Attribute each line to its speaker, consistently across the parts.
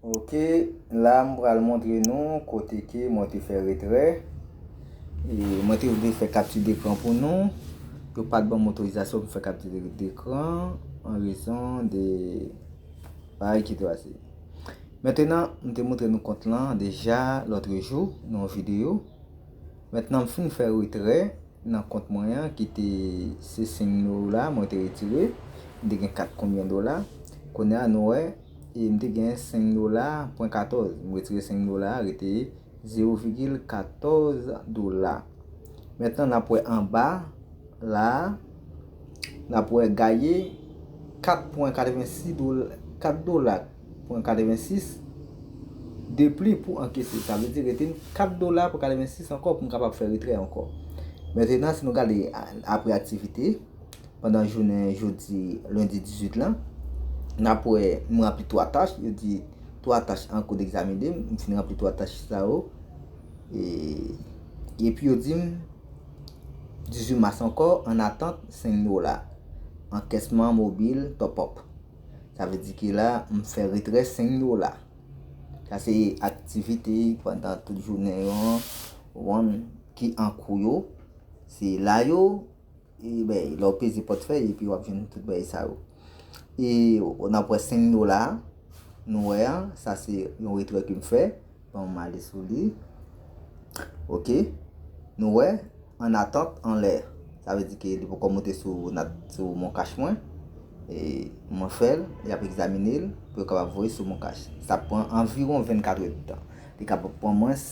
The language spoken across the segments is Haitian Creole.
Speaker 1: Ok, la m pral montre nou kote ke mwen te fè retrè. E mwen te vle fè kapti dekran pou nou. Yo pat banm otorizasyon pou m fè kapti dekran. An rezon de... Bay ki trase. Mentenan, m te moutre nou kont lan deja lòtrejou nan yon videyo. Mentenan m fin fè retrè nan kont mwen an ki te se 5 mil ou la mwen te retire. M te gen 4 konbyen dola. Kounye a nou wè e m te gen 5 mil ou la pwen 14. M retire 5 mil ou la rete 0 vigil 14 dola. Mentenan n ap wè anba. La a, n ap wè gaye 4 pwen 86 dola, 4 dola pwen 86 de pli pou ankese. Sa vle di rete n 4 dola pwen 86 ankò pou n kapab fè retrè ankò. Mentenan, si nou gade apre aktivite, pandan jounen jodi lendi 18 lan, n ap wè m ranpli 3 tach, yo di 3 tach an kou degzamine, m fin ranpli 3 tach sa yo, e pi yo di m. 18 mas ankò an atant seng dola ankesman mobil top up sa vle di ke la m fè retrè seng dola sa se aktivite pandan tout jounen yo an wan ki an kou yo se la yo e bèy lè w peze pòt fèy epi wap jwenn tout bèy sa yo. E nan pwen 5 dola nou wè an, sa se yon retrè ke m fè. Bon, m ale sou li. Ok. Nou wè, an atant anlè. Sa vle di ke li poko monte sou moncash mwen. E mwen fè l, y ap egzamine l pou yo kapab voye sou moncash. Sa pran anviron 24 èd tan. Li kapab pran mwens.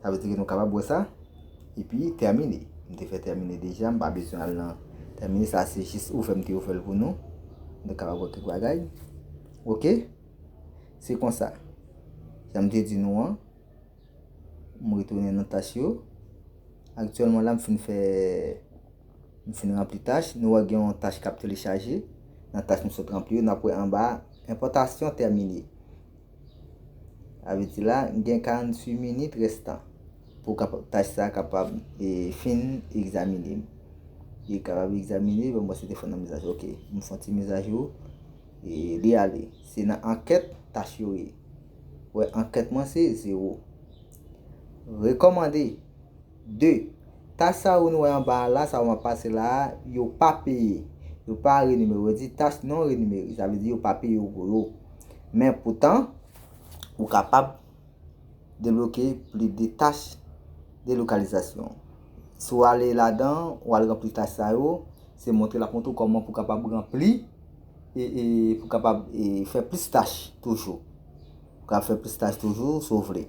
Speaker 1: Sa vle di ke nou kapab wè sa. Epi termine. M te fè termine deja, m pa bezwen al nan termine. Sa se jis ouvè m te ouvè l pou nou. Nou kapab wè kèk bagay. Ok. Se konsa. Jan m te di nou an. M retounen nan tach yo. Aktyèlman la m fin fè, m fin ranpli tach. Nou wè gen yon tach k ap telechaje. Nan tach nou sot ranpli yo, n ap wè anba a, enpòtasyon termine. Sa vle di la, m gen 48 minit restan pou tach sa kapab fin egzamine. Li kapab egzamine, bon, se te fon nan mizajou. Ok, m fon ti mizajou. Li ale. Se nan ankèt tach yo ye. Wè, ankèt mwen se 0. Rekomande. 2, Tach sa yo nou wè anba a la, sa yo m ap pase la a, yo pa peye. Yo pa renimere. Yo di tach non renimere. Sa vle di yo pa peye w pou yo. Men poutan, ou kapab debloke plis de tach delokalizasyon. Si w ale ladan, ou al ranpli tach sa yo, se montre l ap montre w kòman pou kapab ranpli e pou kapab fè plis tach toujou. Pou kapab fè plis tach toujou, si w vle.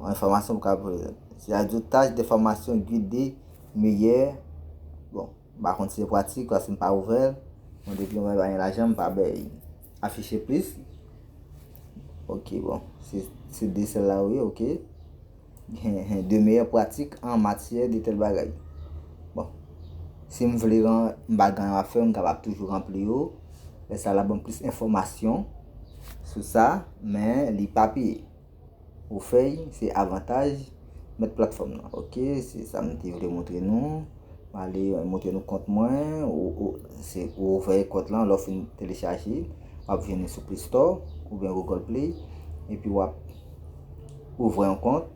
Speaker 1: Enfòmasyon pou ka prezante. Se a di tach de fòmasyon gide miyè. Bon, m pa konn si se pratik paske m pa ouvè l. Bon, depi yon bagay pa gen lajan, m pa bay. Afiche plis. Ok, bon. Se de sèl la ou ye, ok. De miyè pratik an matyè de tèl bagay. Bon. Si m vle ran, m pa gen anyen ap fè, m kapab toujou ranpli yo. Lè sa l ap ban m plis enfòmasyon sou sa, men li pa peye. Ou fèy se avantaj mèt platfòm nan ok se sa m te vle montre nou m ale montre nou kont mwen se ou ouvè kont lan lè w fin telechaje w ap vini sou play store oubyen google play epi w ap ouvè yon kont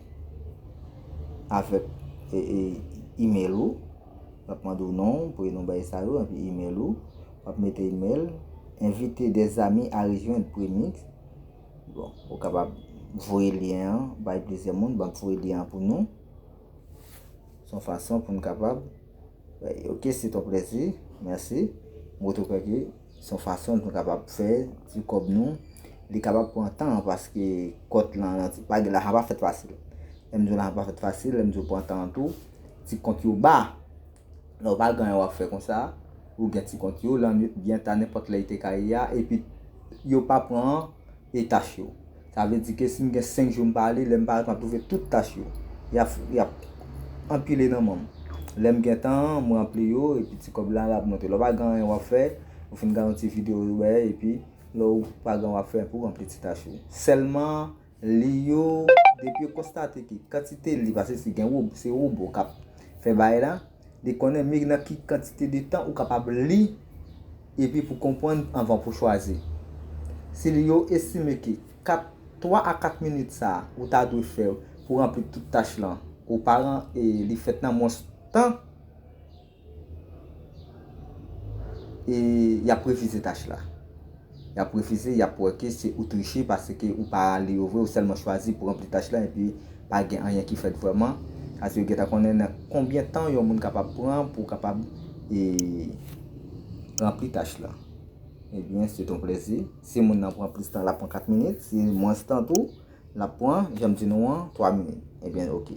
Speaker 1: avèk email ou l ap mande w non prenon bagay sa yo epi email ou w ap mete email envite de zami a rejwenn premix Bon ou kapab voye lyen an bay plizyè moun banm voye lyen an pou nou son fason poun kapab ok se ton plezi merci mwen tou kwè ke son fason nou kapab fè ti kòb nou li kapab pran tan paske kòt lan bagay la pa fèt fasil lèm diw la pa fèt fasil lèm diw pran tan an tou ti kont yo ba. Lè w pa gen anyen w ap fè konsa, ou gen ti kont yo, lannwit byen ta nenpòt lè li te ka ye a, epi yo pa pran etach yo. Sa vle di ke si m gen 5 jou m pa ale, lè m parèt m ap twouve tout tach yo. Y ap anpile nan men m. Lè m gen tan, m ranpli yo, epi ti kòb la l ap monte. Lè w pa gen anyen w ap fè, ou fin gade yon ti videyo ou wè, epi lè w pa gen anyen w ap fè, epi w ranpli ti tach ou. Sèlman Li yo, depi yo konstate ke kantite li pase si gen wob, se wobo kap fè bagay la, li konnen mig nan ki kantite de tan ou kapab li epi pou konprann anvan pou chwazi. Si li yo estime ke 4, 3 a 4 minit sa a ou ta dwe fè pou ranpli tout tach lan ou pa ran e li fèt nan mwens tan, E yap refize tach la. Yap refize, yap wè ke se ou triche paske ou pa li yo vre, ou sèlman chwazi pou ranpli tach la epi pa gen anyen ki fèt vrèman. Ase yo gentan konnen nan konbyen tan yon moun kapab pran pou kapab ranpli tach la. Ebyen, se ton plezi. Si moun nan pran plis tan, lap pran 4 minit. Si mwens tan tou, lap pran, janm di nou an, 3 minit. Ebyen, ok.